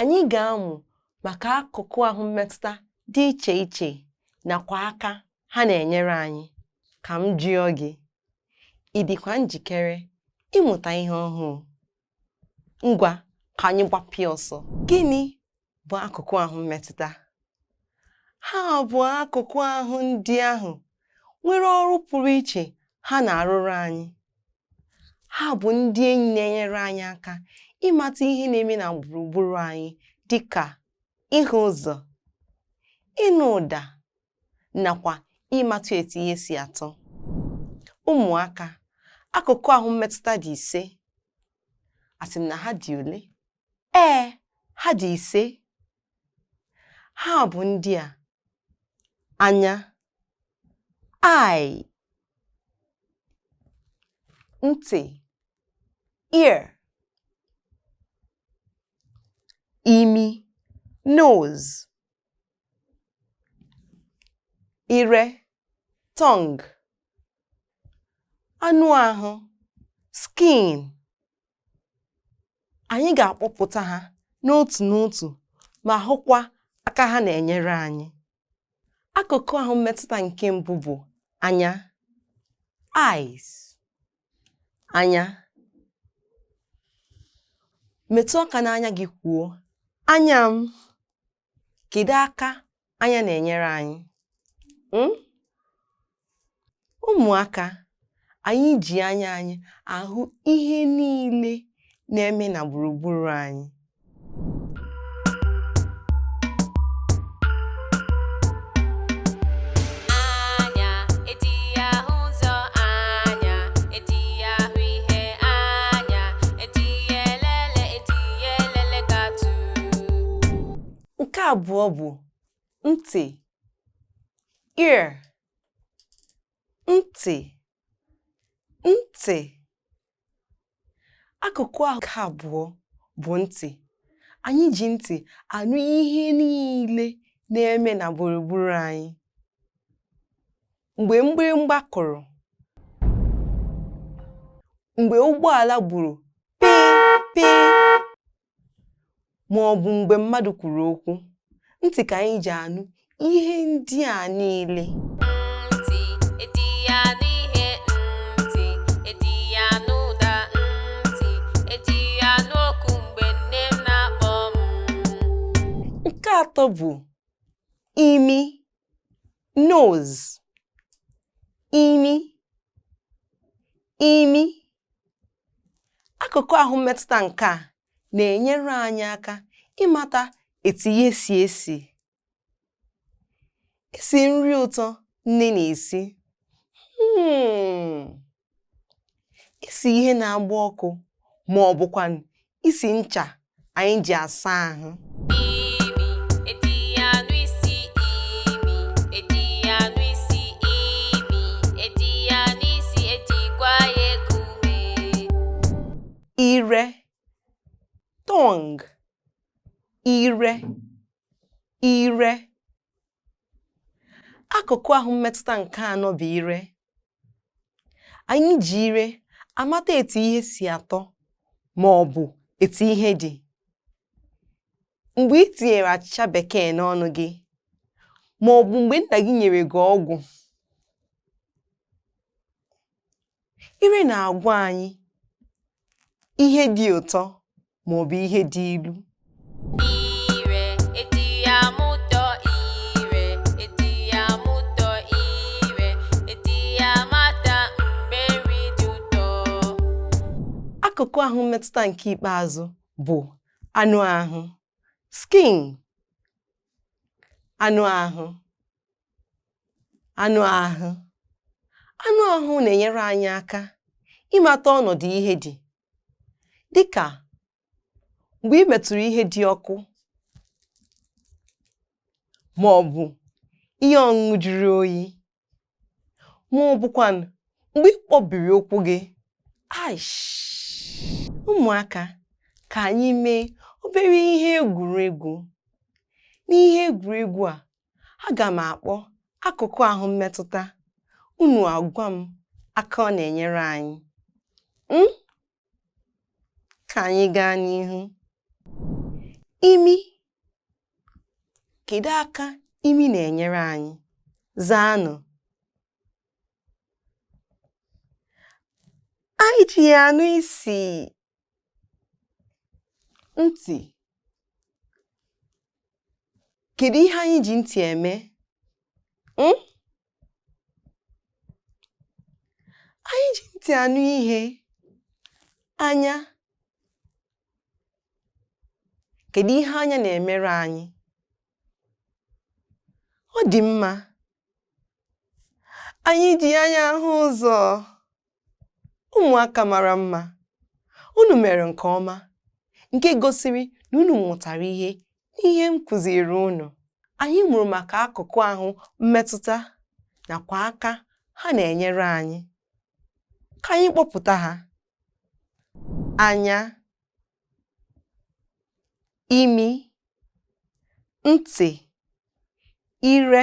Anyị ga-amụ maka akụkụ ahụ mmetụta dị iche iche nakwa aka ha na-enyere anyị. Ka m jụọ gị, ị dịkwa njikere ịmụta ihe ọhụụ? Ngwa ka anyị gbapịa ọsọ. Gịnị bụ akụkụ ahụ mmetụta? Ha bụ akụkụ ahụ ndị ahụ nwere ọrụ pụrụ iche ha na-arụrụ anyị. Ha bụ ndị enyi na-enyere anyị aka ịmata ihe na-eme na gburugburu anyị dị ka ịhụ ụzọ, ịnụ ụda nakwa ịmatụ etu ihe si atọ. Ụmụaka, akụkụ ahụ mmetụta dị ise. Asị m na ha dị ole? Ee, ha dị ise. ha bụ ndị a anya eye ntị ear imi nose ire tongue anụ ahụ skin anyị ga-akpọpụta ha n'otu n'otu ma hụkwa aka ha na-enyere anyị. Akụkụ ahụ mmetụta nke mbụ bụ anya eyes anya metụ aka n'anya gị kwuo anya m kedu aka anya na-enyere anyị hmm? ụmụaka anyị ji anya anyị ahụ ihe niile na-eme na gburugburu anyị Nke abụọ bụ ntị, ear, ntị, ntị. Akụkụ ahụ nke abụọ bụ ntị. Anyị ji ntị anụ ihe niile na-eme na gburugburu anyị. mgbe mgbịrịmgba kụrụ mgbe ụgbọala gburu pịị pịị ma ọ bụ mgbe mmadụ kwuru okwu ntị ka anyị ji anụ ihe ndị a niile nke atọ bụ imi nose imi imi akụkụ ahụ mmetụta nke a na-enyere anyị aka ịmata etu ihe si esi isi nri ụtọ nne na-esi hmm. isi ihe na-agba ọkụ ma ọ bụkwanụ isi ncha anyị ji asa ahụ ire tongue ire ire Akụkụ ahụ mmetụta nke anọ bụ ire. Anyị ji ire amata etu ihe si atọ ma ọ bụ etu ihe dị. Mgbe i tinyere achịcha bekee n'ọnụ gị ma ọ bụ mgbe nna gị nyere gị ọgwụ Ire na-agwa anyị ihe dị ụtọ ma ọ bụ ihe dị ilu. Ire e ji ama ụtọ ire e ji ama ụtọ ire e ji amata mgbe nri dị ụtọ. Akụkụ ahụ mmetụta nke ikpeazụ bụ anụ ahụ, skin. Anụ ahụ. anụ ahụ anụ ahụ na-enyere anyị aka ịmata ọnọdụ ihe dị dịka mgbe i metụrụ ihe dị ọkụ ma ọ bụ ihe ọṅụṅụ jụrụ oyi ma ọ bụkwanụ mgbe ị kpọbiri ụkwụ gị aish ụmụaka ka anyị mee obere ihe egwuregwu n'ihe egwuregwu a aga m akpọ akụkụ ahụ mmetụta unu agwa m aka ọ na-enyere anyị hmm? ka anyị gaa n'ihu imi kedu aka imi na-enyere anyị zaanụ anyị ji ya anụ isi ntị kedu ihe anyị ji ntị eme hmm? anyị ji ntị anụ ihe anya kedu ihe anya na-emere anyị ọ dị mma anyị ji anya ahụ ụzọ Ụmụaka mara mma, unu mere nke ọma nke gosiri na unu mụtara ihe n'ihe m kụziiri unu. Anyị mụrụ maka akụkụ ahụ mmetụta nakwa aka ha na-enyere anyị. Ka anyị kpọpụta ha. Anya, imi, ntị, ire,